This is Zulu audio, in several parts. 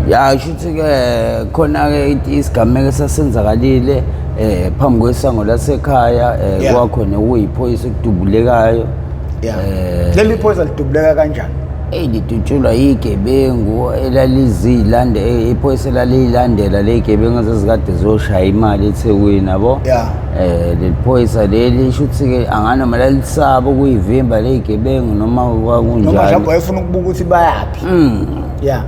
ya kusho ukuthi-ke khona-ke isigameko esasenzakalile um phambi kwesango lasekhaya um Yeah. kwakhona okuyiphoyisa okudubulekayo Yeah. Eh. Leli phoyisa lidubuleka kanjani? eyi lidutshulwa yigebengu elaliziyilande eh, iphoyisa elaliyilandela le gebengu ezazikade ziyoshaya imali ethekwini yabo Yeah. eh leli phoyisa leli shuthi ke anganoma lalisaba ukuyivimba le gebengu noma Noma mhlawumbe kwakunjalo wayefuna ukubuka ukuthi bayaphi. ya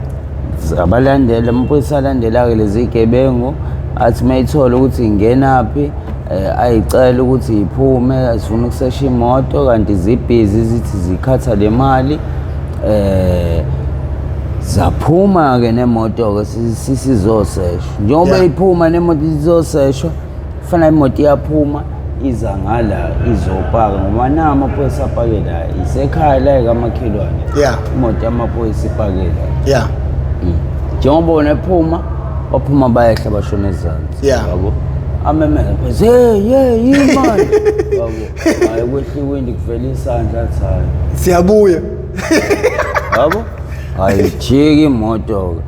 abalandela amaphoyisa alandela-ke lezi gebengu athi uma ithole ukuthi ingenaphi um ayicela ukuthi iphume azifuna ukusesha imoto kanti zibhizi zithi zikhatha le mali um zaphuma-ke nemoto-ke sisizoseshwa njengoba iphuma nemoto izoseshwa Fana imoto iyaphuma iza ngala izopaka ngoba na amaphoyisa apake la isekhaya la ekamakhelwane Yeah. imoto yamaphoyisa ipake la Yeah. Mm. njengoba bona ephuma baphuma bayehla bashona ezansi Yeah. yabo amemeza phose hey hey yini manje yabo hayi kwehla iwindi kuvela isandla athi hayi Siyabuya. yabo ayijiki imoto-ke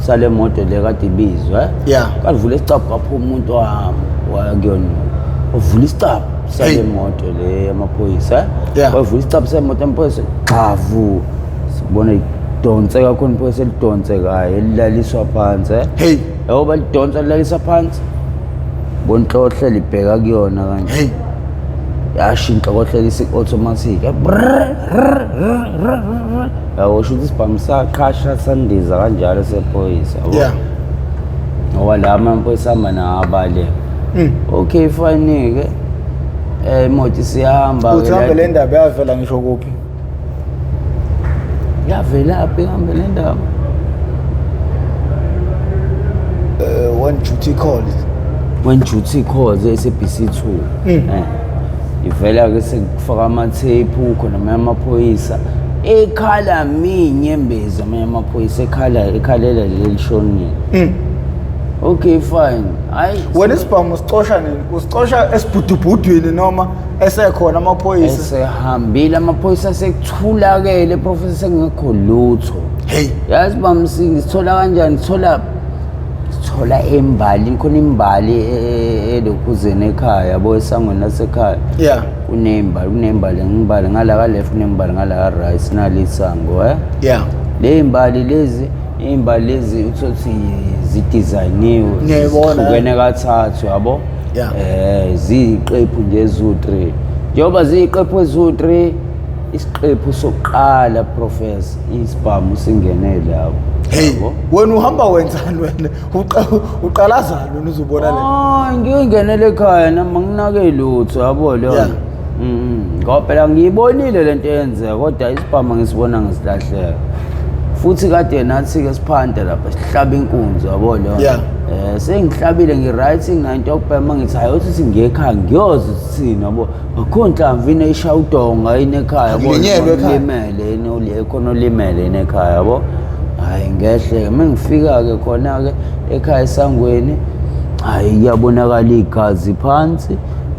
sale moto le kade ibizwa yeah kalivula isicabha kwaphuma umuntu wami wakuyona uvula isicabha sale moto le yamaphoyisa yeah wavula isicabha sale moto yamaphoyisa xavu sibona idonse kakhulu iphoyisa elidonse kaye elilaliswa phansi hey yabo balidonsa lilalisa phansi bonhlohle libheka kuyona kanje hey yashintsha kohlelisa i-automatic Yawo sho ukuthi isibhamu saqhasha sandiza kanjalo sephoyisa. yabo. yeah Ngoba la amaphoyisa ahamba nawo abale. Mm. Okay fine ke. Eh imoto siyahamba uthi hambe le ndaba yavela ngisho kuphi Yavela phi hambe le ndaba. Eh, one duty call When duty calls SABC 2. Mm. Eh. ivela-ke sekufaka amathephu khona amanye amaphoyisa ekhala minye embezi amanye amaphoyisa ekhala ekhalela leli lishonile Mm. okay fine hayi wena isibhamu usicosha nini usicosha esibhudubhudwini noma esekhona amaphoyisa esehambile amaphoyisa sekuthulakele profesa sekungekho lutho heyi yazi bamsingi sithola kanjani sithola thola imbali khona imbali e, e, elokhuzeni ekhaya yabo esangweni lasekhaya yeah kunembali kunembali ngibali ngala ka left kunembali ngala ka right nalisango eh yeah le imbali lezi imbali lezi uthothi zidesigned ngiyibona kukene kathathu yabo yeah eh ziqephu nje zu 3 njengoba ziqephu zu 3 isiqephu sokuqala professor isibhamu singenele hawu Hey, Yabo? wena uhamba wenzani wena? Uqa- Uqalazani wena uzobona le. Ah, ngike ngenele ekhaya nami nginake lutho yabo Yeah. lona Mhm. ngoba phela ngiyibonile lento eyenzeka kodwa isibhamu ngisibona ngisilahleka futhi kade nathi-ke siphanda lapha sihlaba inkunzi yabo lona Yeah. um sengihlabile ngi-right nginanto yokubhema ngithi hayi othi singiyekhaya ngiyoze sithini yabo akho nhlamvu yini eyishaya udonga yini ekhaya Angilenyelwe ekhaya. limele yini uli- khona olimele yini ekhaya yabo hhayi ngehle-ke uma ngifika-ke khona-ke ekhaya esangweni hhayi kuyabonakala igazi phansi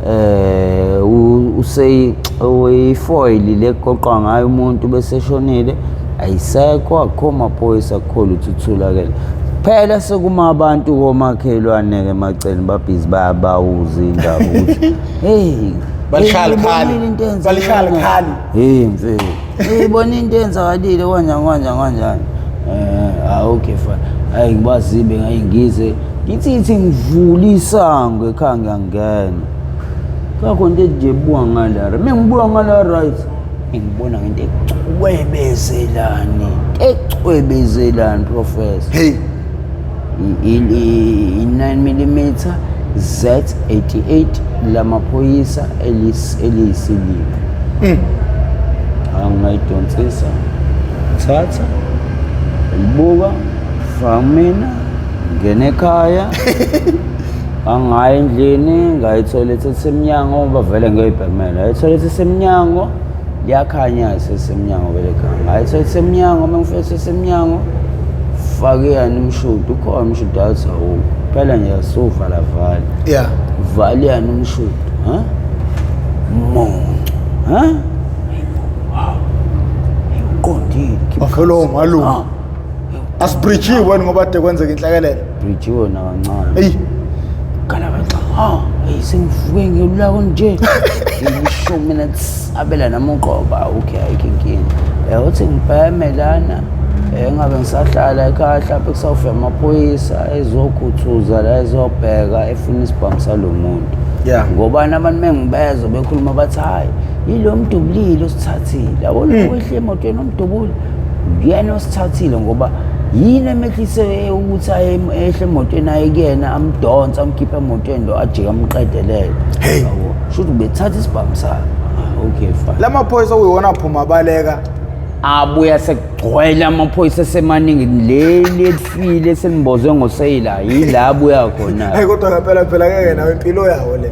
um useyifoyili le kuqoqwa ngayo umuntu bese eshonile ayisekho akukho maphoyisa akukho lutho uthulakele phela sekuma abantu komakhelwane-ke macele babhizi bayabawuza indaba ukuthi Hey. Balishaya likhali. Ngiyibonile into eyenzekile. Balishaya likhali. Hey mfethu. Ngiyibona into enzakalile kanjani kanjani kanjani. Eh, ah okay fine. Hayi ngibazibe ngayingize. Ngithi ithi ngivula isango ekhaya ngiyangena. Kakho into nje buka ngala. Mina ngibuka ngala right. Ngibona ngento ecwebezelani. Ecwebezelani professor. Hey. i-9mm Z88 lamaphoyisa eliyisilima hmm. angayidonsisa thatha libuka famina ngene ekhaya angayi endlini ngayithola ethi semnyango bavele ngeyibhemela ayithola ethi semnyango liyakhanya sesemnyango vele gama hayi sesemnyango uma ngifika sesemnyango fake yani umshudo ukhona umshudo athi awukho phela nje asiwuvala vale ya vale yani umshudo ha monco ha uqondile khipha- bafelo malume Ah. asibridgiwe ngoba de kwenzeka inhlekelele Brijiwe nakancane. Eyi. Gala kaxa. Ha, hey sengivuke ngiyolako nje. Ngisho mina abela namuqoba okay ayikho inkinga. Eh uthi ngibheme lana. Eh ngabe ngisahlala ekhaya mhlawumbe kusawufika amaphoyisa ezokhuthuza la ezobheka efuna isibhamu salomuntu. Yeah. Ngoba abantu mengibezwe bekhuluma bathi hayi yilo mdubulile osithathile. Awona wehle emotweni omdubuli. Uyena osithathile ngoba yini emehlise ukuthi aye ehle emotweni aye kuyena amdonse amkhiphe emotweni lo ajike amqedelele. Hey. Shuthi ubethatha isibhamu sakhe. Ah, okay fine. La maphoyisa uyiwona aphuma abaleka. abuya sekugcwele amaphoyisa esemaningi leli elifile selimbozwe ngoseyila yila abuya khona Hey kodwa ngempela phela ngeke nawe impilo yawo le.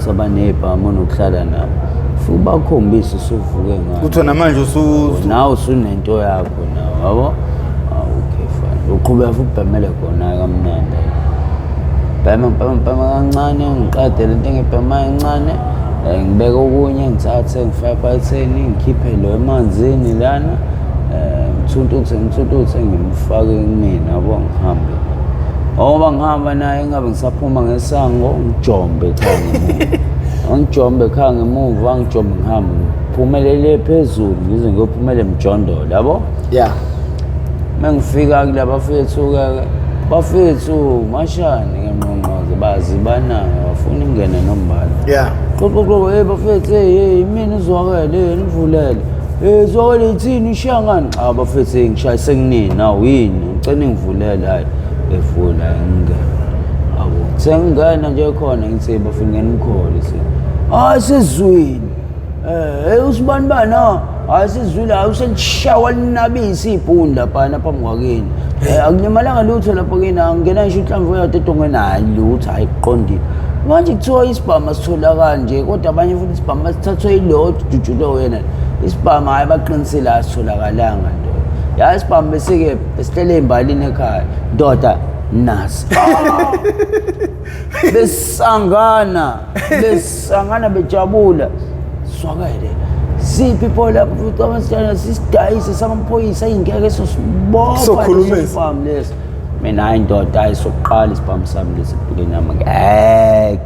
sabanebhamu nokuhlala nabo futhi bakhombise usuvuke ngayo Kuthiwa namanje usu nawe usunento yakho nawe yabo okay fine uqhubeka futhi ubhemele khona kamnandi bhema bhema bhema kancane ngiqade lento engibhema encane eh, ngibeke okunye ngithathe ngifake phakatheni ngikhiphe lo emanzini lana eh, ngithuntuthe ngithuntuthe ngimfake kumina yabo ngihambe ngoba ngihamba naye ngabe ngisaphuma ngesango ngijombe cha angijombe khaya ngemuva angijombe ngihambe ngiphumelele phezulu ngize ngiyophumela emjondolo yabo ya uma ngifika kula bafethu-ke bafethu mashane ngengqongqoze bazi banayo bafuna imngene nombala ya qoqoqoqo hey bafethu hey hey imina uzwakele hey nivulele hey uzwakele ithini ushiyangani cha bafethu hey ngishayise kunini awu yini ngicela ngivulele hayi evula ingane abo sengingena nje khona ngithi bafuna ngena umkhole se hayi sizwini eh usibani bana hayi sizwile hayi uselishawa linabisi ibhunda phana phambi kwakini Eh, akulimalanga lutho lapho kini angena ngisho inhlamvu yodwa edongweni hayi lutho hayi kuqondile manje kuthiwa isibhamu asithola kanje kodwa abanye futhi isibhamu basithathwe yilowo ojujule wena isibhamu hayi baqinisile asitholakalanga nto yazi isibhamu besike Esihlele imbalini ekhaya. Ndoda nasi. Besangana, besangana bejabula. Swakele. Siphi pole lapho futhi abasitshana sisidayise samaphoyisa ingeke esosibopha. Sokhuluma lesi. Sibhamu lesi. Mina hayi ndoda hayi sokuqala isibhamu sami lesi empilweni yami. Ngeke.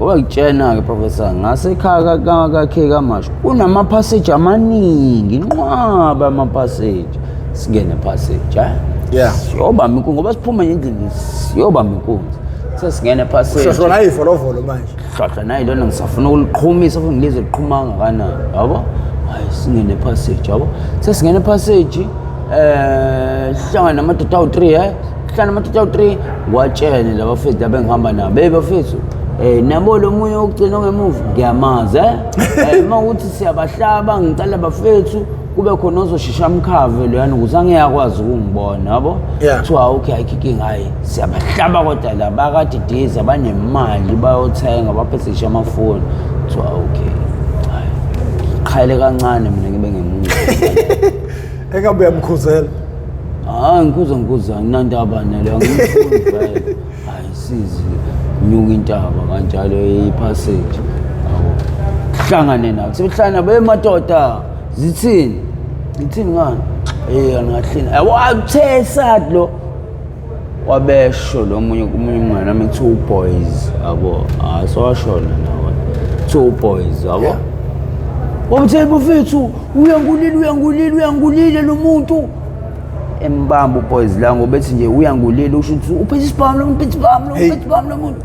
Wakutshena-ke Professor ngasekhaya kakhe kamasho kunamaphaseji amaningi inqwaba amaphaseji singene phaseji eh? yeah. siyobamba inkunzi ngoba siphuma endlini siyobamba inkunzi sesingene phasejihlahla nayo ivolovolo manje hlahla nayo lona ngisafuna ukuliqhumisa futhi ngilizwe liqhuma kangakanani yabo hayi singene phaseji yabo sesingene phaseji eh sihlangana namadoda awu-3 he eh? sihlangana namadoda awu-3 watshene laba fethu laba engihamba nabo beyi bafethu Eh nabo lo munye ogcina ngemuva ngiyamazi eh, eh uma ukuthi siyabahlaba ngicela bafethu kube khona ozoshisha amkhave loyana ukuthi angiyakwazi ukungibona yabo kuthiwa okay ayikhiking hayi siyabahlaba kodwa la bakadidiza banemali bayothenga baphesishe amafoni kuthiwa okay qhayele kancane mina ngibe ngemuva engabe uyamkhuzela hayi ngikhuza ngikhuza anginandaba naleyo angiyifuni vele ayisizi nyuka intaba kanjalo ipassage awu hlangane nathi sebehlangana bemadoda zithini ngithini ngani eh angahlina awuthesa lo wabesho lo munye kumunye umngane wami two boys yabo ah sowashona nawe two boys yabo Yeah. wamthela bafethu uyangulile uyangulile uyangulile lo muntu embamba uboys la ngobethi nje uyangulile usho ukuthi uphethe isibhamu lo muntu uphethe isibhamu lo muntu Hey. uphethe isibhamu lo muntu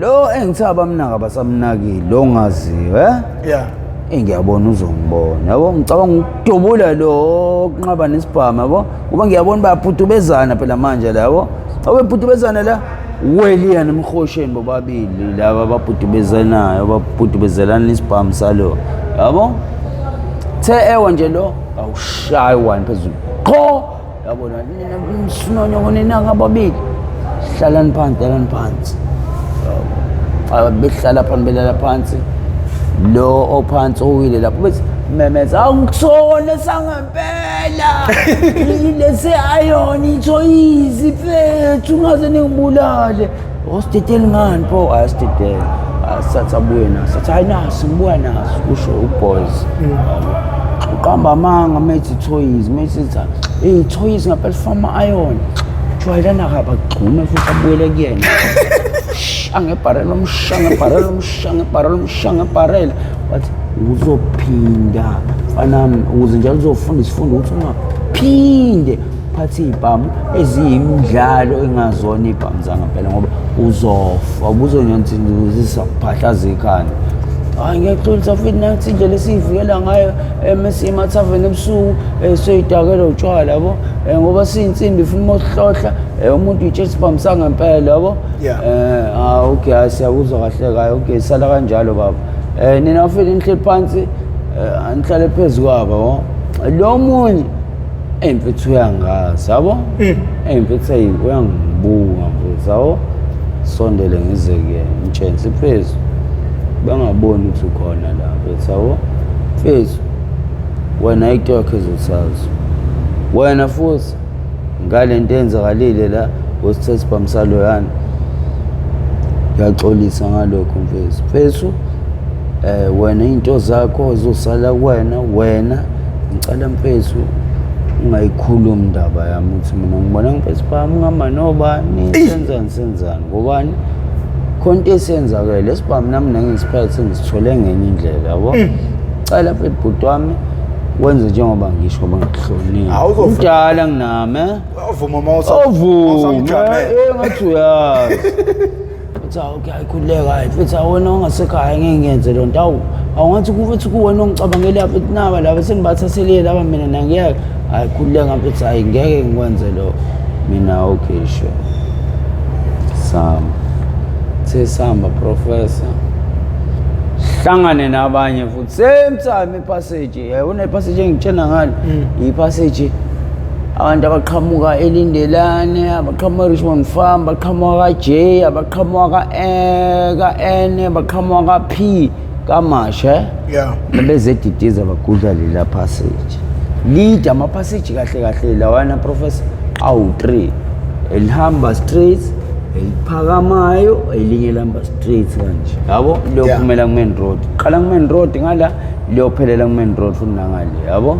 Lo engithe abamnaka basamnakile lo ngaziwe eh? Yeah. Engiyabona uzongibona. Yabo ngicabanga ukudubula lo kunqaba nesibhamu yabo. Kuba ngiyabona bayaphutubezana phela manje la yabo. Awephutubezana la weliya nemhosheni bobabili laba baphutubezanayo baphutubezelana isibhamu salo. Yabo? The ewa nje lo awushayi one phezulu. Qho yabona nina msunonyoko nina ngababili hlalani phansi hlalani phansi Yabo. Ah, behlala phansi belala phansi lo ophansi owile lapho bethi memeza angikusona sangempela lesi ayoni ithoyizi fethu ungaze ningibulale Hospital ngani pho hospital. Asathabuye naso. Athi hayi naso ngibuya naso kusho uboys. Uqamba amanga methi toys methi tha. Hey toys ngapel from iron. Jwayelana kaba gxume futhi abuyele kuyena. Angebharela umsha ngebharela umsha ngebharela umsha ngebharela. Wathi uzophinda fanami ukuze njalo uzofunda isifundo ukuthi ungaphinde phathi iy'bhamu eziyimidlalo engazona iy'bhamu zangempela ngoba uzofa ubuzonyonzinzisa kuphahlaza ikhanda hayi ngiyaxolisa futhi nansi indlela esiyivikela ngayo uma siyimathaveni ebusuku um soyidakela utshwala yabo um ngoba siyinsimbi funa uma uhlohla um umuntu uyitshela isibhamu sangempela yabo um okay hayi siyakuzwa kahle kayo okay sala kanjalo baba um nina futhi nihleli phansi um anihlale phezu kwabo yabo lo munye eyi mfethu uyangazi yabo Mm. eyi mfethu eyi uyangibuka mfethu yabo sondele ngize kuyena mtshensi mfethu bengaboni ukuthi ukhona la mfethu yabo mfethu wena into yakho ezosazo wena futhi ngale nto eyenzakalile la wesithe sibhamisalo yani ngiyaxolisa ngalokho mfethu mfethu um wena iy'nto zakho zosala kuwena wena Ngicela mfethu ungayikhulumi indaba yami ukuthi mina ngibona ngifesi phami ngihamba nobani senzani senzani ngobani khona into esiyenzakele esibhamu nami nangisikhathi sengisithole ngenye indlela yabo mm. cela mfethu bhuti wami wenze njengoba ngisho ngoba ngikuhlonile umdala nginami eh? ovuma uma usavume eh, ngathi uyazi futhi awu kuyayikhululeka hayi futhi awona ongasekhaya ngeke ngenze loo nto awu awungathi kufuthi kuwena ongicabangele apha ukuthi naba laba sendibathathele laba mina nangiyeke hayi khululeka mfethu hayi ngeke ngikwenze lo mina okay sure sama sesihamba professor hlangane nabanye futhi same time Passage, yabona ipassage engitshena ngalo. Mm. Ipassage abantu abaqhamuka elindelane abaqhamuka richmond farm baqhamuka ka-j abaqhamuka ka-n eh, baqhamuka ka-p kamasha yeah. nabezedidiza bagudla lela passage lide amaphaseji kahle kahle lawana professor awu-three elihamba straight eliphakamayo elinye elihamba straight kanje yabo Yeah. liyophumela ku-main road qala ku-main road ngala liyophelela ku-main road futhi nangale yabo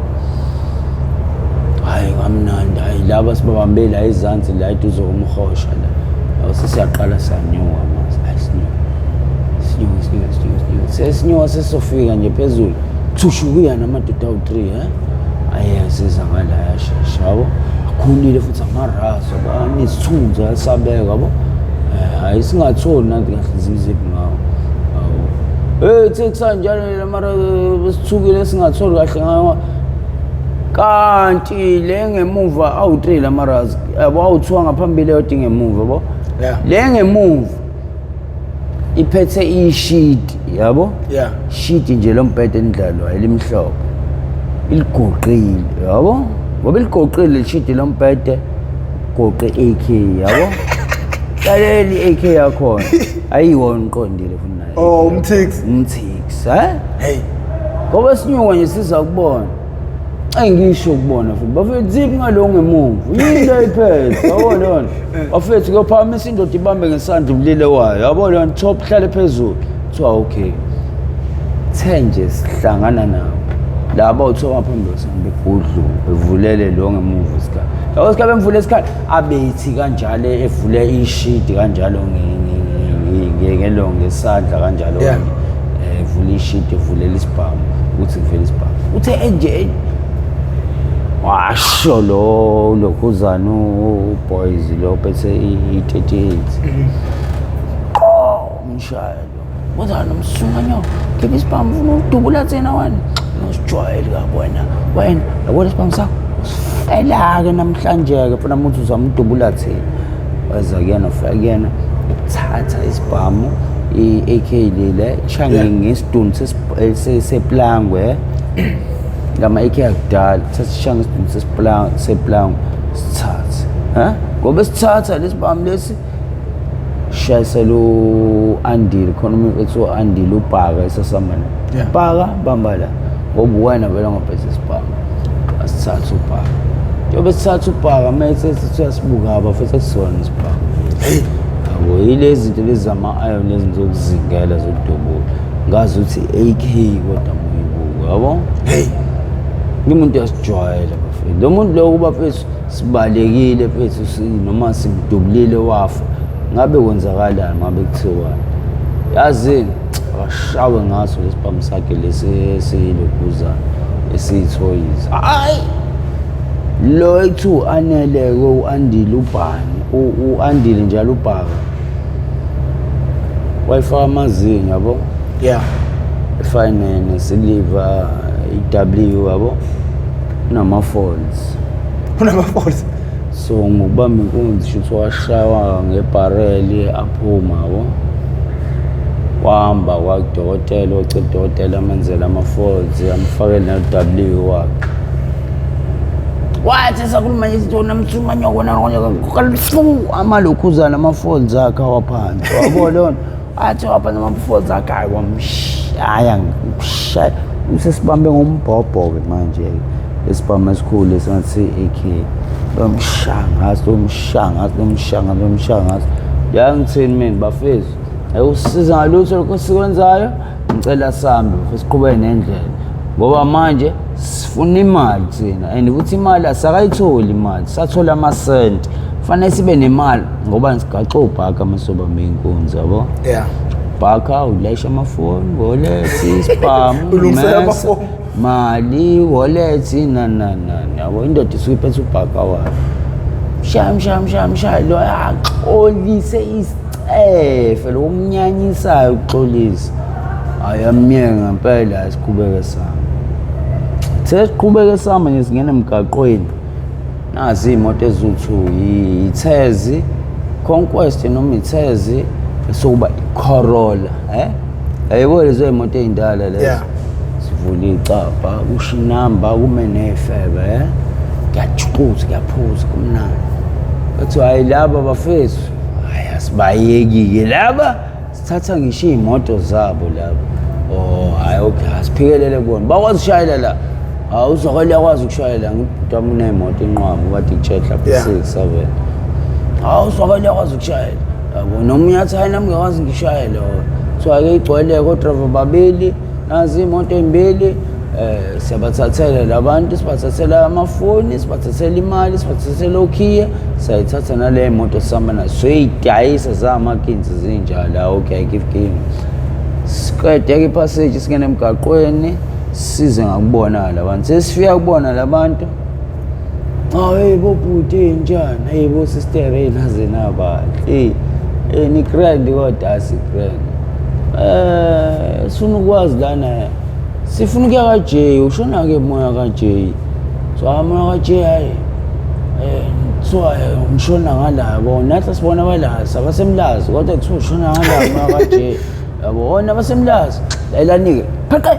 hhayi kamnandi hhayi laba sibabambe la ezansi la eduze komhosha la yabo sesiyaqala siyanyuka manje hhayi sinyuka sinyuka sinyuka sinyuka sinyuka sesinyuka sesizofika nje phezulu thushukuya namadoda awu-three um aye asiza ngala yashesha yabo akhulile futhi amarazi Sabani isithunzi asabeka yabo. Eh, hayi singatholi nanti kahle zimziphi ngawo. Hey sekusanjalo mara besithukile singatholi kahle ngawo. Kanti le ngemuva awu 3 la mara yabo awuthiwa ngaphambili yodinga emuva yabo. Yeah. Le ngemuva iphethe ishidi yabo yeah shidi nje lombhede endlalo elimhlophe iligoqile yabo ngoba iligoqile ishidi lombhede goqe AK yabo laleli AK yakho ayiwona uqondile futhi naye oh umthix umthix eh hey ngoba sinyuka nje siza kubona Ayi ngisho kubona futhi bafethu ziphi ngalo ngemumvu yini le iphethe yabo lona bafethu kuyophakamisa indoda ibambe ngesandla ubulile wayo yabo lona chop hlale phezulu kuthiwa okay the nje sihlangana nabo laba uthiwa baphambi kwesami begudlu bevulele lo ngemumvu isikhala yabo sikhala bemvule isikhala abethi kanjalo evule ishidi kanjalo ngelonge isandla kanjalo evule ishidi evulela isibhamu ukuthi kuvele isibhamu uthe enje washo lo lokhuzana uboys lo phethe i-38 qo umshaya Kodwa nomsunganya khipha isibhamu ufuna ukudubula thina wena. Usijwayeli kakwena wena yabona isibhamu sakho usifela-ke namhlanje-ke funa muthi uzamudubula thina weza kuyena ufika kuyena uthatha isibhamu i-ak lile shange ngesidunu seplangwe ngama-ak akudala thatha sishange isidunu seplangwe sithathe um ngoba sithatha lesi bhamu lesi shayisela u-andile khona umuntu ethi u-andile ubhaka esasambana Yeah. bhaka bamba la ngoba uwena vele ngobhesa isibhaka asithathe ubhaka njengoba sithathe ubhaka mese sithi uyasibukaba futhi akusona isibhaka yabo yile zinto lezi zama-iron lezi zokuzingela zokudubula ngazi ukuthi i-ak kodwa muyibuko yabo heyi ngimuntu uyasijwayela bafethu lo muntu lowo kuba fethu sibalekile phethu si noma simdubulile wafa ngabe kwenzakalani ngabe kuthiwani yazini akashawe ngaso lesibhamu sakhe lesi esiyilokhuzana esiyithoyizi hayi lo ekuthiwa u-aneleke u-andile ubhani u-andile njalo ubhaka wayifaka amazinyo yabo ya efinene siliva i-w yabo kunama-falls unamaforce so ngokubamba inkunzi shuthi washawa ngebhareli aphuma yabo wahamba kwadokotela ocela udokotela amenzele ama-folds amfakele ne-w wakhe wathi sakhuluma nje izinto namthuma nyoko nakonye kalifu amalokhuzana ama-folds akhe awaphansi wabo lona Athi waba namafoza akayi wamshaya ngikushaya usesibambe ngombhobho-ke manje-ke esibhamu esikhulu esingathi i-AK lomshangazi lomshangazi lomshangazi lomshangazi yangithini mina bafethu ayikusiza ngalutho lokho sikwenzayo ngicela sambe futhi siqhubeke nendlela ngoba manje funa imali thina and ukuthi imali asakayitholi imali sathola amasenti kufanele sibe nemali ngoba sigaxa obhaka amasibamba iy'nkunzi yabo yeah bhaka ulayisha amafoni wolethi sibhamu Ulungisela mesa, amafoni. mali wolethi nananani yabo indoda isuke iphethe ubhaka wayo mshaya mshaya mshaya mshaya lo axolise isicelo Eh fela umnyanyisayo uxolisa. Ayamnyeke ngempela asiqhubeke sami. Sesiqhubeke sami nje singena emgaqweni. Nazi imoto ezuthu yithezi conquest noma ithezi sokuba iCorolla eh ayebo lezo imoto ezindala lezo. Yeah. Sivula icapha kusho inamba kume nefebe eh. Ngiyajuquza ngiyaphuza kumnandi. Kuthiwa hayi laba bafethu Hayi asibayeki-ke laba sithatha ngisho iy'moto zabo laba o hhayi okay asiphikelele kubona bakwazi ukushayela la hawu uzokele yakwazi ukushayela ngibhuti wami uney'moto inqwaba ubade kutshehla Yeah. six seven hawu uzokele yakwazi ukushayela yabo nomunye athi hayi nami ngiyakwazi ngishayele o kuthiwa-ke igcwele kodrava babili nazi imoto embili eh siyabathathela labantu sibathathela amafoni sibathathela imali sibathathela okhiye sayithatha nale moto sihamba nayo soyidayisa zamakinzi zinjalo awu okay give king siqede ke passage singena emgaqweni size ngakubona labantu sesifika kubona labantu Hayi bo bhuti enjani? Hey bo sister hey naze nabahle. Hey eh ni grand kodwa asi grand. Eh sifuna ukwazi lana. Sifuna ukuya ka J, ushona ke moya ka J. So moya ka J hayi. Eh so umshona ngala bo nathi sibona bala sabasemlazi kodwa kuthiwa ushona ngala moya ka J. Yabo ona basemlazi. Layilani ke. Phaqe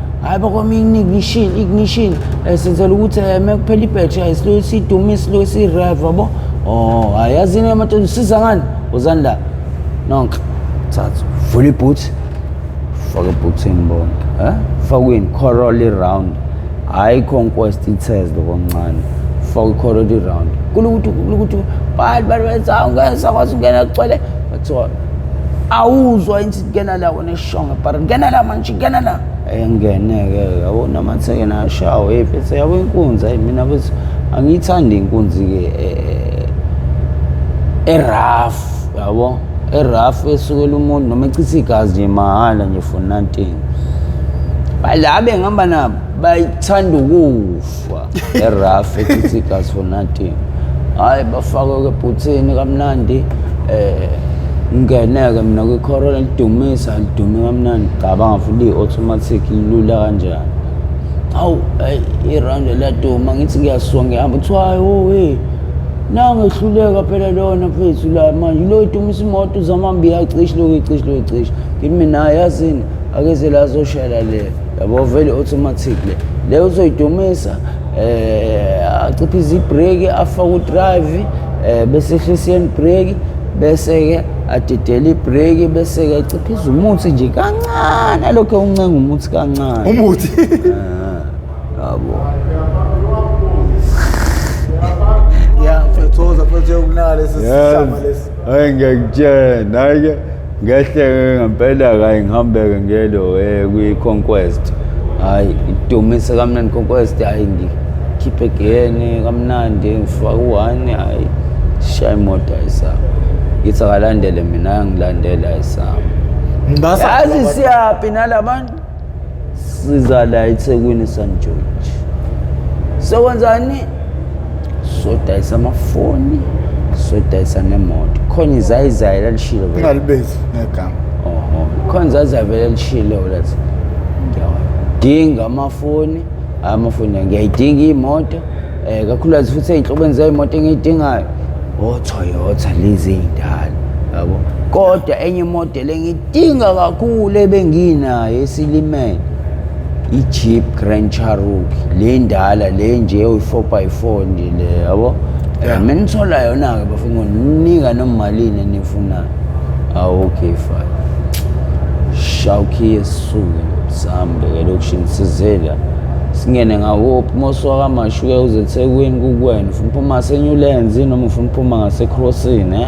hayi bakwami ignition ignition um senzela ukuthi um eh, uma kuphela ibhetri ayi siloyo sidume siloyo sirev yabo o oh, hayi yazini amadoda usiza ngani wozani la nonke thatha vula ibhuthi faka ebhuthini bonke um eh? fakwini corol iround hhayi conquest ithes lokoncane faka icorol iround kulokuthi kulokuthi bani bani benza ungena sakwazi ungena kugcwele kuthiwa awuzwa insithi kena la wona shonga bara ngena la manje ngena la engene-ke yabo namatheke nashawo hey bese yabo inkunzi ayi mina bese angiyithandi inkunzi-ke eh, eraf yabo eraf esukela umuntu noma echitha igazi nje mahhala nje for nothing balabe ngihamba nabo bayithanda ukufa eraf ethi gas for nothing hayi bafakwe kebhuthini kamnandi eh ngeneke mina kwikhoro lidumisa lidume kamnandi cabanga futhi i-automatic lilula kanjani hawu irande laduma ngithi ngiyasuka ngihamba kuthiwa hayi owe nangehluleka phela lona mfethu la manje lo idumisa imoto uzamambi yacishe loku icishi loku icishi ngithi mina yazini akeze lazoshela le yabo vele automatic le le uzoyidumisa eh aciphize ibreak afa ku drive eh bese ehlisa ibreak bese ke adidele ibreak bese ke aciphize umuthi nje kancane lokho uncenga umuthi kancane umuthi ah, yabo ya mfethoza mfethu yokunala lesi sisama lesi Hayi ngiyakutshena hayi ngehleke ngempela kayi ngihambeke ngelo eh, kwi-conquest hayi idumise kamnandi conquest hayi ngikhiphe gene kamnandi ngifake u-one hayi shaya imoto ayisama ngithi akalandele mina angilandele ayisama yazi siyaphi nalabantu siza la ethekwini san george sokwenzani sodayisa amafoni sodayisa nemoto khona izayizayi lalishilo vele. ungalibezi negama Oho. khona izayizayi vele lalishilo lathi ngiyawadinga amafoni hhayi amafoni ngiyayidinga iy'moto um kakhulukazi futhi ey'nhlobeni zey'moto engiyidingayo otoyota lezi ey'ndala yabo kodwa enye imodeli engiyidingayo Inga kakhulu ebenginayo esilimele i-jeep grand charuki le ndala le nje uyi-four by four nje le yabo Yeah. mina ngithola yona-ke bafuna ninika nomalini enifunayo awu okay fine shawukhiye sisuke sihambe ke lokishini sizela singene ngawophi mosuka kamashuke uzethekwini kukwena ufuna uphuma ngasenyulenzi noma ufuna uphuma ngasekrosini eh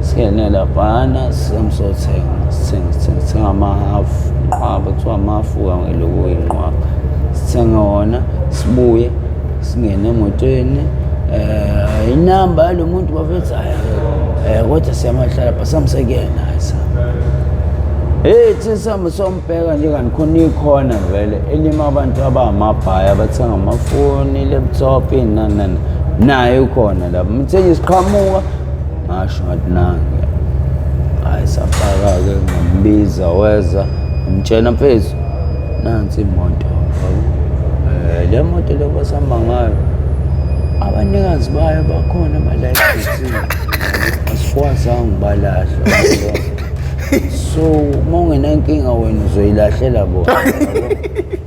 Singene laphana sisemsothenga sithenga sithenga sithenga amahafu inqwaba kuthiwa amahafu kangeloku oyinqwaba sithenge wona sibuye singene emotweni um inamba yalo muntu bafethi hhayi um kodwa siyamahlala pha samsekuyena hhayi sa Hey thina sihambe sombheka nje kanti khona ikhona vele elima abantu abangamabhaya abathenga amafoni, laptop, inanana. Naye ukhona lapho. Mthengisi qhamuka ngasho ngathi nange hayi safaka-ke ngambiza weza ngimtshena mfethu nansi imoto um le moto le kwasihamba ngayo abanikazi bayo bakhona abalayisisi asikwazanga ukubalahla so uma ungenankinga wena uzoyilahlela bona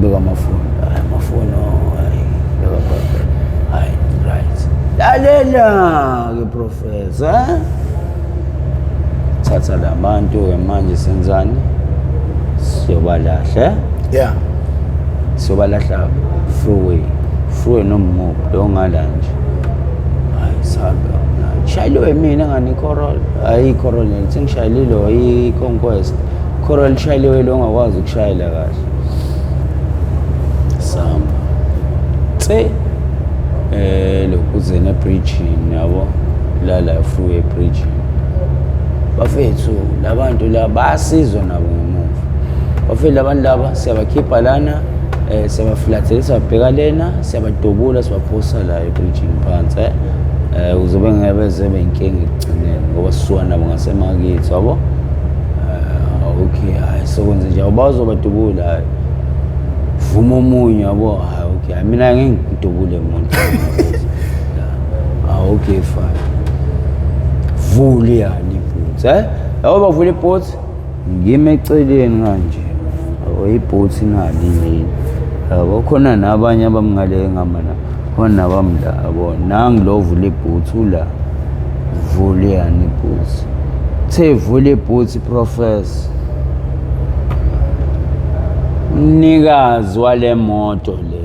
beka amafoni hayi amafoni oh, hayi beka beka hayi right lalela ke professor eh? thatha labantu ke manje senzani siyobalahle yeah siyobalahla freeway freeway nomumo longala nje hayi sabe shayile wemina ngani icorol hayi icorol sengishayileilo i-conquest Khora lishayile wena ongakwazi ukushayela kahle. Samba. Tse eh lokuzena bridge yabo la la freeway bridge. Bafethu labantu la basizwa nabo ngemuva. Bafethu labantu laba siyabakhipha lana eh siyabaflathela siyabheka lena siyabadubula sibaphosa la ebridge phansi eh, eh uzobe ngeke beze benkinga ekugcineni ngoba sisuka nabo ngasemakithi wabo eh, okay hayi sokwenze nje awubazobadubula hayi vuma omunye yabo hayi okay hayi mina ngeke ngidubule muntu ah okay fine vuli yani ibhutsi eh yabo bavula ibhutsi ngime eceleni kanje oyibhuthi nali yini yabo khona nabanye abamngale ngama la khona nabamla yabo nangi lo vula ibhuthi ula vule yani ibhuthi the vule ibhuthi professor umnikazi wale moto le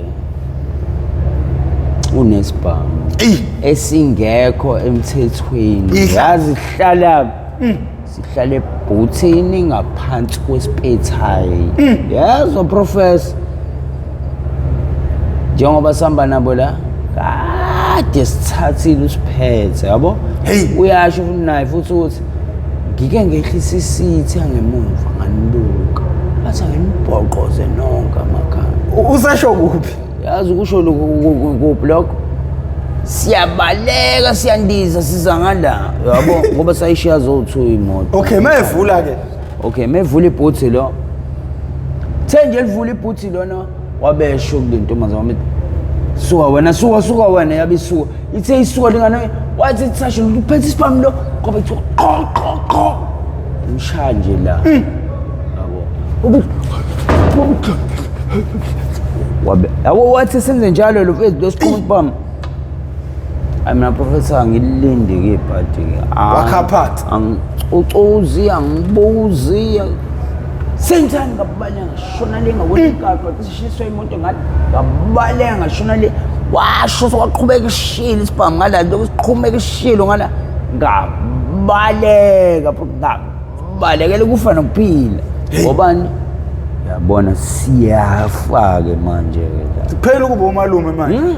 unesibhamu Eyi. esingekho emthethweni Ihla. yazihlala sihlale ebhuthini ngaphansi kwesipethayi mm. yezwa professor njengoba sihamba nabo la kade sithathile usiphethe yabo uyasho futhi naye futhi ukuthi ngike ngehlisa isitha ngemuva nganibuka athi angimubhoqoze nonke amakhanda usasho kuphi yazi ukusho kuphi lokho siyabaleka siyandiza siza ngala yabo ngoba sayishiya zowu-two imoto okay mevula ke okay mevula ibhuthi lo the nje livula ibhuthi lona wabesho kule ntombazane wami suka wena suka suka wena yabe isuka ithe isuka lingane wathi sasho luphethe isibhamu lo ngoba ithi qho qho qho Ushaya nje la. Yabo. Wabe. Yabo wathi senze njalo lo fethu lesiqhuma bam. Ay mina professor ngilinde ke party ke. Ah, Wakha part. ang- Ucozi angibuzi. Senzani ngabanye ngishona lenga wenkakho. Shiswe imoto ngathi ngabaleka ngashona le washo sokwaqhubeka ishilo isibhamu ngala nto kusiqhumeka ishilo ngala ngabaleka ngabalekela ukufa nokuphila ngobani yabona siyafa-ke manje-ke kuphela ukuba umalume manje hmm?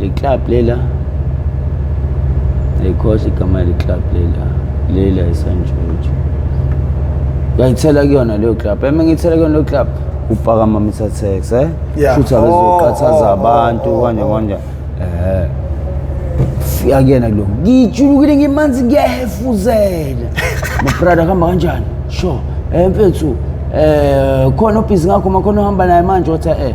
Le club lela ayikhohle igama le club lela lela isanjunju ngayithela kuyona leyo club eme ngithela kuyona leyo club upaka mamisa tax eh Yeah. futhi abezoqathaza Oh, oh, abantu oh, kanje oh. kanje eh fika kuyena lo ngijulukile ngimanzi ngiyahefuzela mabrada kuhamba kanjani sho eh mfethu eh khona obhizi ngakho makhona ohamba naye manje wathi eh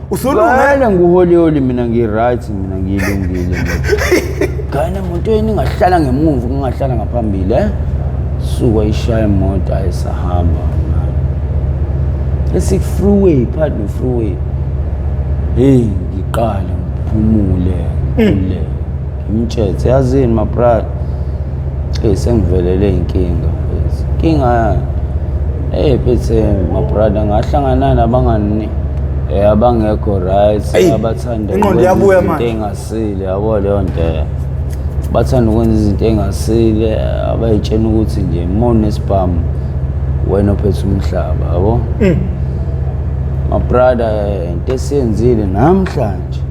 Usulunge. Ngane nguholiholi mina ngi-right mina ngiyilungile. Ngane muntu yini ngahlala ngemuva kungahlala ngaphambili eh? Suka ishaya imoto ayisahamba. Esik freeway, pardon freeway. Hey, ngiqale ngiphumule. Mm. Ngimtshetse yazini mabrad eyi sengivelele inkinga inkinga yani eyi phethe mabrada ngahlangana nabangani eh, abangekho right Eyi, abathanda inqondo ukwenza iyabuya izinto manje. engasile yabo leyo nto eh. bathanda ukwenza izinto engasile abayitshena ukuthi nje mona esibhamu wena ophethe umhlaba yabo mabrada eh, into esiyenzile namhlanje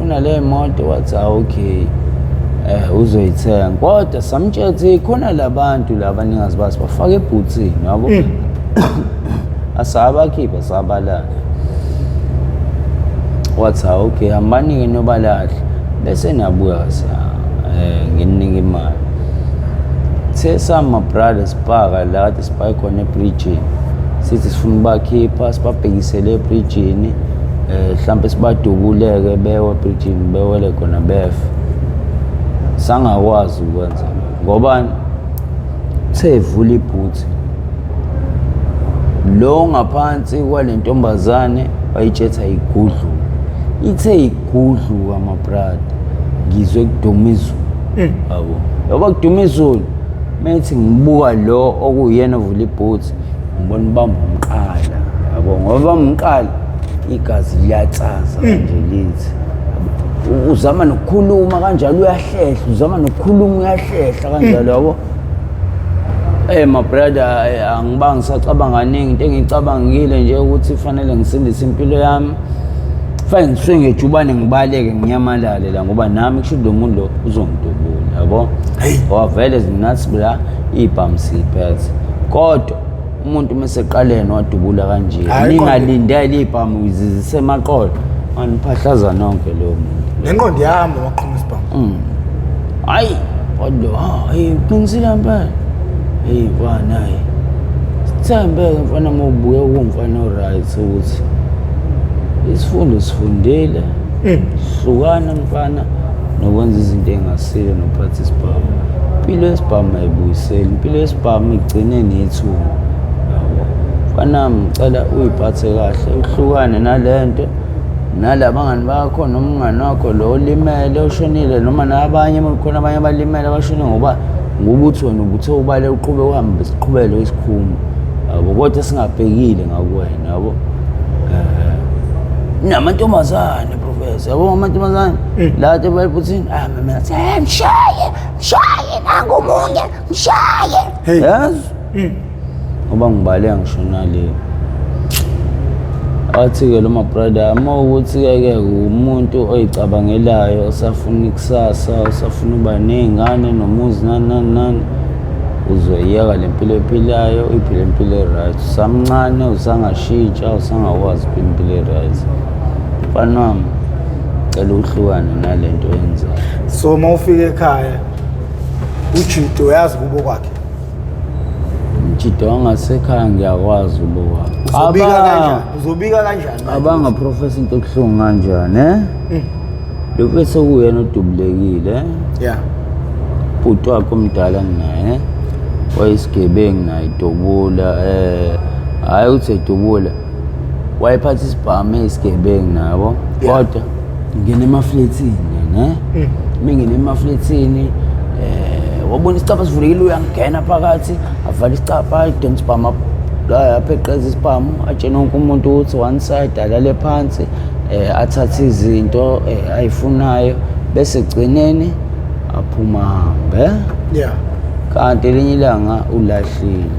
kunale moto wathi ah, okay eh uzoyithenga kodwa samtshela ukuthi khona labantu laba ningazi basi bafake ebhuthini yabo mm. asabakhiphe sabalala wathi ah, okay hambani-ke nobalahle bese nabuya sa eh nginingi imali the sama brothers bhaka la kade sibhaye khona ebridgini sithi sifuna ubakhipha sibabhekisele ebridgini eh mhlambe sibadubuleke bewe bridging bewele khona bef sangakwazi ukwenza ngoba sevula ibhuthi lo ngaphansi kwalentombazane wayitshetha igudlu ithe igudlu amabrada ngizwe kuduma izulu yabo yaba kuduma izulu methi ngibuka lo okuyena ovula ibhuthi ngibona ubamba umqala yabo ngoba umqala igazi liyatsaza hmm. nje lithi uzama nokukhuluma kanjalo uyahlehla uzama nokukhuluma uyahlehla kanjalo hmm. yabo Eh my brother eh, angibanga ngisacabanga kaningi into engicabangile nje ukuthi fanele ngisindise impilo yami fanele ngisuke ngejubane ngibaleke nginyamalale la ngoba nami kusho lo muntu lo uzongidubula yabo wavele zinathi bla ibhamu siyiphethe kodwa umuntu uma eseqaleni wadubula kanje Hhayi, kodwa- ningalindele ibhamu zisemaqolo maniphahlaza nonke loyo muntu nenqondo yami waqhuma isibhamu hayi kodwa hayi uqinisile mpela eyi bana hayi sithembeke mfana uma ubuke kumfana oright ukuthi isifundo sifundile hlukana mfana nokwenza izinto engasile nokuphatha isibhamu impilo yesibhamu ayibuyiseli impilo yesibhamu igcine nethunga yabo fanami ngicela uyiphathe kahle uhlukane nale nto nalabangani bakho noma umngani wakho lo olimele oshonile noma nabanye khona abanye abalimele abashone ngoba ngokuthi wena ubuthe ubale uqhube uhambe siqhubele isikhumba yabo kodwa singabhekile ngakuwena yabo um namantombazane Professor, yabo amantombazane Eh. la ke bayiphuthini ah mina athi "Eh, mshaye mshaye nangu munye mshaye Hey. yazi Mm. ngoba ngibale ngisho nale athi-ke lo mabrada uma ukuthi-ke ke umuntu oyicabangelayo osafuna ikusasa osafuna uba ney'ngane nomuzi nani nani nani uzoyiyeka le mpilo ephilayo uyiphile impilo e-right usamncane usangashitsha usangakwazi ukuphila impilo e-right mfana wami cela uhlukane nale nto oyenzayo so uma ufika ekhaya ujudo uyazi kubo kwakhe umjido wangasekhaya ngiyakwazi ubo kwakhe uzobika kanjani uzobika kanjani manje? abanga profesa into ebuhlungu kanjani eh Mm. lo mfethu okuyena odubulekile eh? yeah bhuti wakhe omdala nginaye wayesigebengu naye idubula um hhayi ukuthi edubula wayephatha isibhamu eyisigebengu nabo Yeah. kodwa ngingena emaflethini ne Mm. uma ngingena emaflethini um wabona isicabha sivulekile uyangena phakathi avala isicabha ayidonsa isibhamu ap- apheqeza isibhamu atshene wonke umuntu ukuthi one side alale phansi um athathe izinto um ayifunayo bese ekugcineni aphuma hambe yeah kanti elinye ilanga ulahle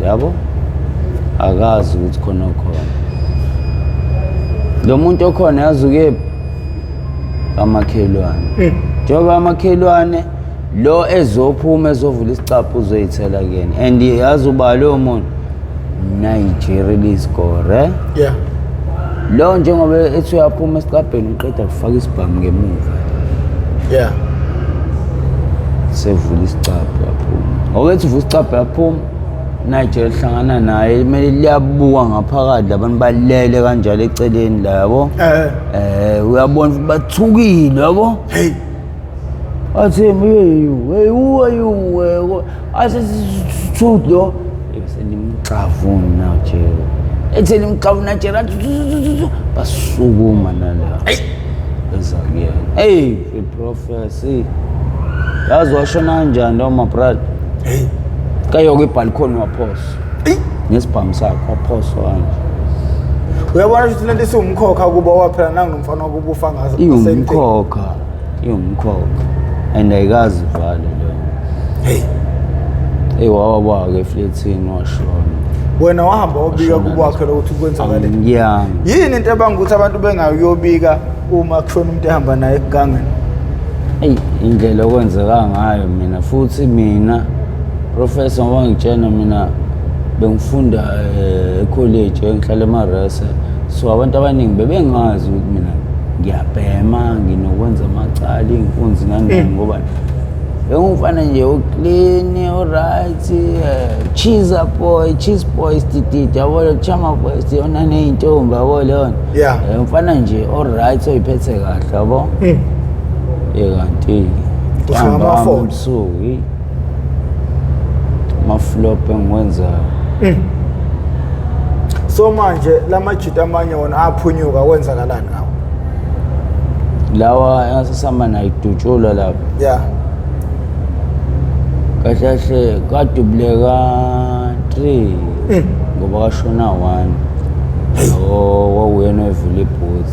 yabo akazi ukuthi khona okhona lo muntu okhona yazi ukephi amakhelwane Eh. njengoba amakhelwane lo ezophuma ezovula isicaphu uzoyithela kuyena and yazi uba lowo muntu nigeria liscore eh? Yeah. lo njengoba ethi uyaphuma esicabheni qeda kufaka isibhamu ngemuva yeah sevula isicabha yaphuma okethi uvula isicabha yaphuma nigel hlangana naye kumele liyabuka ngaphakathi labantu balele kanjalo eceleni la yabo Eh. um uyabona ukuthi bathukile yabo hey athi myeyiweyuweyuwe asesithuthi lo senimxavuna nje ethe nimxavuna nje basukuma nala eza kuyena eyi iprofesi yazi washona njani noma brad heyi kayoke ibhalikhoni waphosa ngesibhamu sakhe waphosa kanje uyabona ukuthi lento isiwumkhokha kuba waphela nanginomfana kubufa ngazo iwumkhokha iwumkhokha and ayikazi vale leyo hey hey wawa kwake eflethini washona wena wahamba obika kubwakhe lokuthi kwenzakale ngiyami yini into ebanga ukuthi abantu bengayobika uma kushona umuntu ehamba naye ekugangeni eyi indlela okwenzeka ngayo mina futhi mina professor ngoba ngitshena mina bengifunda eh, ekholeji engihlala emarese so abantu abaningi bebengazi ukuthi mina ngiyabhema nginokwenza amacala iy'nkunzi nani eh. ngoba bengumfana nje oclean oright eh, cheese boy cheese boy stititi yabo chama boy siyona ney'ntombi yabo leyona yeah. Eh, umfana nje oright oyiphethe kahle yabo mm. ye kanti-ke ntambama ebusuku maflop engiwenzayo mm. so manje lamajita amanye wona aphunyuka kwenzakalani ngawo lawa engasesama nayidutshulwa lapho yeah kahle kahle kadubuleka 3 mm. ngoba kashona 1 oh wawuyena evula ibhuthi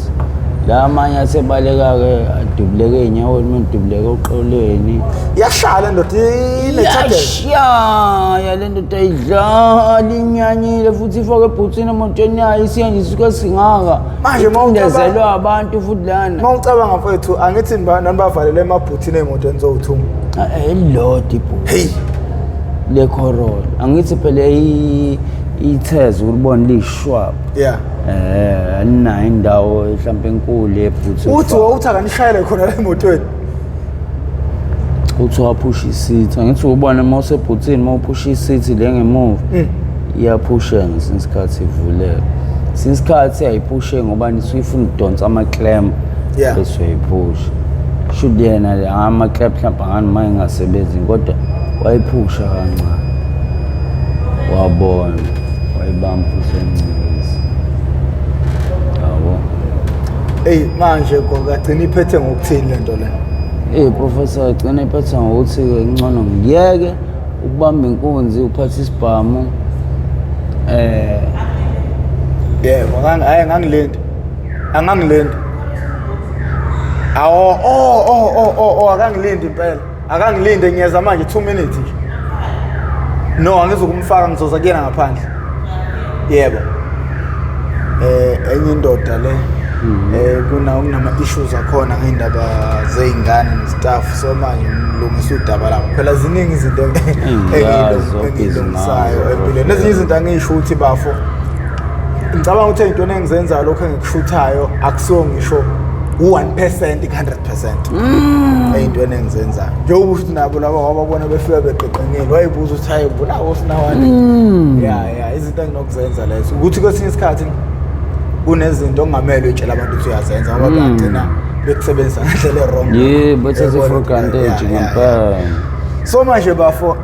la amanye asebaleka-ke adubuleke ey'nyaweni uma edubuleke oqoleni iyahlala ndoda inethadela yashaya le ndoda ayidlali inyanyile futhi ifake ebhuthini emotweni yayo isiyanjisuke singaka Manje uma ucabanga- icindezelwe abantu futhi lana uma ucabanga mfethu angithi niba- nanibavalele emabhuthini ey'motweni zowuthunga elilodwa ibhuti heyi le corol angithi phela i- itheze ulibona liyishwaba ya eh aninayo indawo mhlawumbe enkulu yebhuthi uthi wawuthi akanishayele khona la emotweni uthi waphusha isithi angithi ubona uma usebhuthini uma uphusha isithi le ngemuva mm. iyaphusha ngesinye isikhathi ivuleka since isikhathi ayiphushe ngoba nisuyifuna ukudonsa ama-clamp Yeah. bese uyayiphusha should yena le ama-clamp mhlawumbe angani uma engasebenzi kodwa wayiphusha kancane wabona wayibamba futhi emncinisa yabo eyi manje kwakagcina iphethe ngokuthini le nto le eyi professor agcina iphetha ngokuthi-ke kuncono ngiyeke ukubamba inkunzi uphathe isibhamu eh yebo ngangi- hhayi ngangilindi angangilindi awo o o o o akangilindi impela akangilinde ngiyeza manje 2 minutes nje no angizokumfaka ngizoza kuyena ngaphandle yebo eh enye indoda le mhm. eh kuna kunama issues akhona ngeindaba zeingane nestaff so manje ngilungisa udaba lapho phela ziningi izinto engilungisayo empilweni nezinye izinto angisho ukuthi bafo ngicabanga ukuthi into engizenza lokho engikushuthayo akusiwo ngisho u1% 100% cent mm. eyintweni engizenzayo njengoba uthi nabo laba wababona befika beqeqengile wayibuza ukuthi hayi bunawo sinawani mm. ya ya izinto enginokuzenza lezo ukuthi kwesinye isikhathi kunezinto ongamele utshela abantu ukuthi uyazenza ngoba mm. bagcina bekusebenzisa ngendlela erong yeah but as if for granted ngempela so manje bafo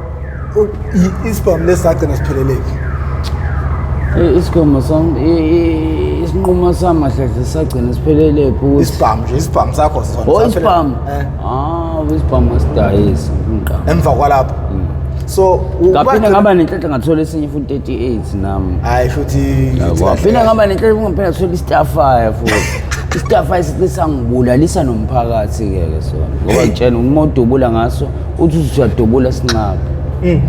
isibhamu lesi sagcina sipheleleki isigomo sam isinqumo sami kahle sagcina sipheleleki ukuthi isibhamu nje isibhamu sakho sona oh isibhamu eh. ah isibhamu asidayisi ngiqala emva kwalapho mm. so ngaphinde ngaba nenhlanhla ngathola esinye futhi 38 nami hayi futhi ngaphinde ngaba nenhlanhla ngaphinde ngathola istafaya futhi istafaya sisangibulalisa nomphakathi ke ke sona ngoba ngitshena umuntu ubula ngaso uthi usuyadubula sinxabe Mm.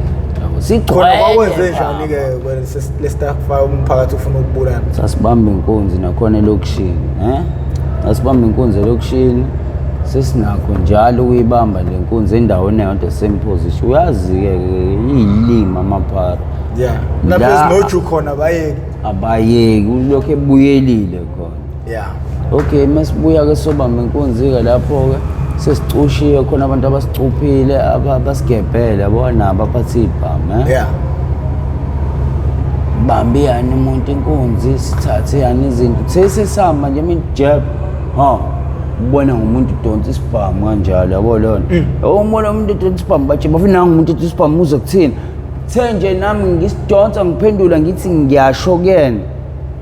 khona kwakwenze sigcwele njani-ke wena ses- lestaff fire umphakathi ufuna ukubulana sasibamba inkunzi nakhona elokishini eh sasibamba inkunzi elokishini sesinakho njalo ukuyibamba le nkunzi endaweni eyodwa same position uyazi-ke ke iyilima amaphara ya La- naphezu noju khona bayeke abayeki ulokhu ebuyelile khona yeah okay masibuya ke sobamba inkunzi-ke lapho-ke sesicushiwe khona abantu abasicuphile abasigebhele yabo nabo aphathe ibhamu eh? yeah bambi yani umuntu inkunzi sithathe yani izinto sesesihamba nje imijeb ha ubona ngomuntu udonsa isibhamu kanjalo yabo leyo nto mm. umona umuntu udonsa isibhamu batshe bafuna nangu umuntu udonsa isibhamu uze kuthini the nje nami ngisidonsa ngiphendula ngithi ngiyasho kuyena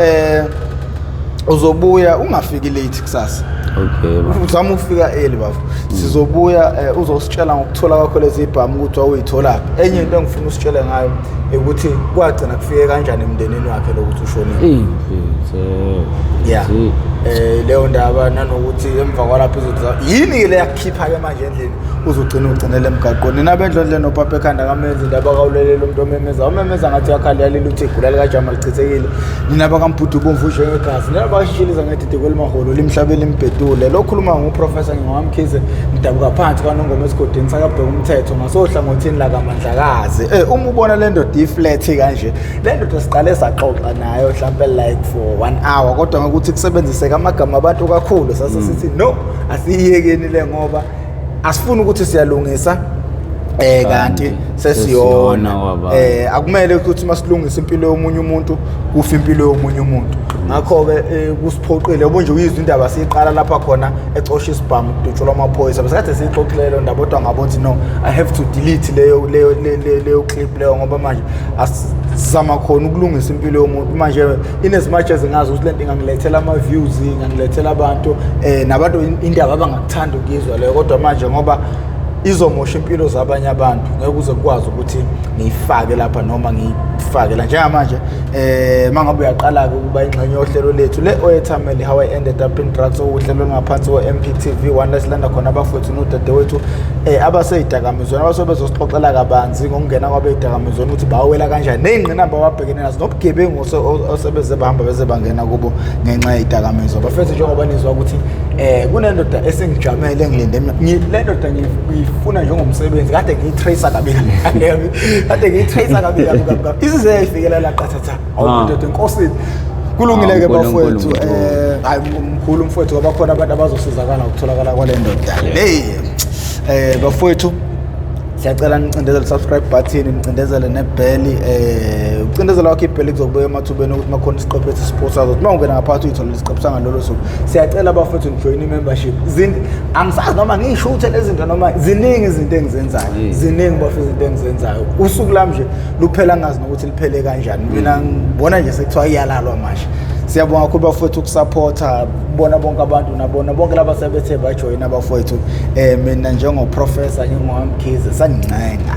eh uzobuya ungafiki late kusasa okay bafo uzama ukufika early bafo sizobuya eh, uzositshela ngokuthola kwakho lezi bhamu ukuthi wawuyitholaphi enye into engifuna usitshele ngayo ukuthi kwagcina kufike kanjani emndenini wakhe lokuthi ushonile impilo ya um leyo ndaba nanokuthi emva kwalapho izothi yini-ke le yakukhipha-ke manje endlini uzogcina ugcinele emgaqweni nina bendlondle nopapa ekhanda kamenzi ndaba kawulelele umuntu omemeza umemeza ngathi uyakhali yalile uthi igula likajama lichithekile nina bakamphuthu ubomvu njengegazi nina bakashishiliza ngedide kwelimaholo limhlabe limbhedule lo khuluma nguprofesa ngingowamkhize ngidabuka phansi kwanongoma esigodini sakabheka umthetho ngasohlangothini lakamandlakazi um eh, uma ubona le ndoda iflethi kanje le ndoda siqale saxoxa nayo mhlawumpe like for one hour kodwa ngokuthi kusebenziseka amagama abantu kakhulu sase sithi no asiyiyekeni le ngoba asifuni ukuthi siyalungisa eh kanti sesiyona eh akumele ukuthi masilungisa impilo yomunye umuntu kufa impilo yomunye umuntu ngakho ke eh, kusiphoqile ubunje uyizwa indaba siyiqala lapha khona ecosha isibhamu kudutshelwa amaphoyisa bese kade siyixoxile leyo ndaba kodwa ngabona ukuthi no i have to delete leyo leyo leyo clip leyo ngoba manje asizama khona ukulungisa impilo yomuntu manje in as much as ngazi ukuthi lento ingangilethela ama views ingangilethela abantu eh nabantu indaba abangakuthanda ukuyizwa leyo kodwa manje ngoba izomosha impilo zabanye abantu ngeke uze kukwazi ukuthi ngiyifake lapha noma ngiyifake la njengamanje eh mangabe uyaqala ke ukuba ingxenye yohlelo lethu le oyethameli how i ended up in drugs okuhlelo ngaphansi ko MPTV one let's landa khona abafowethu nodadewethu eh abaseyidakamizweni abasobezosixoxela kabanzi ngokungena kwabeyidakamizweni ukuthi bawela kanjani nezingqinamba bhekene nazo nobugebengu osebeze bahamba beze bangena kubo ngenxa yedakamizwa bafethu njengoba nizwa ukuthi eh kunendoda esengijamele ngilinde le ndoda ngiyifuna njengomsebenzi kade ngiyitracer kabi kabi kade ngiyitracer kabi kabi kabi isize yayifikela la qathatha ah. awudoda enkosini kulungile ke bafowethu eh hayi mkhulu mfowethu ngoba khona abantu abazosizakala ukutholakala kwale ndoda hey eh bafowethu siyacela nicindezele subscribe button nicindezele nebheli eh ucindezela wakho ibheli kuzokubuya emathubeni ukuthi makhona isiqephu esisiposazo ukuthi uma ungena ngaphakathi uyithola lesiqephu sangalolo suku siyacela bafethu nijoyine i-membership angisazi noma ngisho ukuthi lezi zinto noma ziningi izinto engizenzayo ziningi bafethu izinto engizenzayo usuku lami nje luphela ngazi nokuthi liphele kanjani mina ngibona nje sekuthiwa iyalalwa manje siyabonga kakhulu bafethu ukusaphotha kubona bonke abantu nabona bonke laba sebethe bajoyina abafowethu um mina njengoprofesa nginguhamkhize sangincenga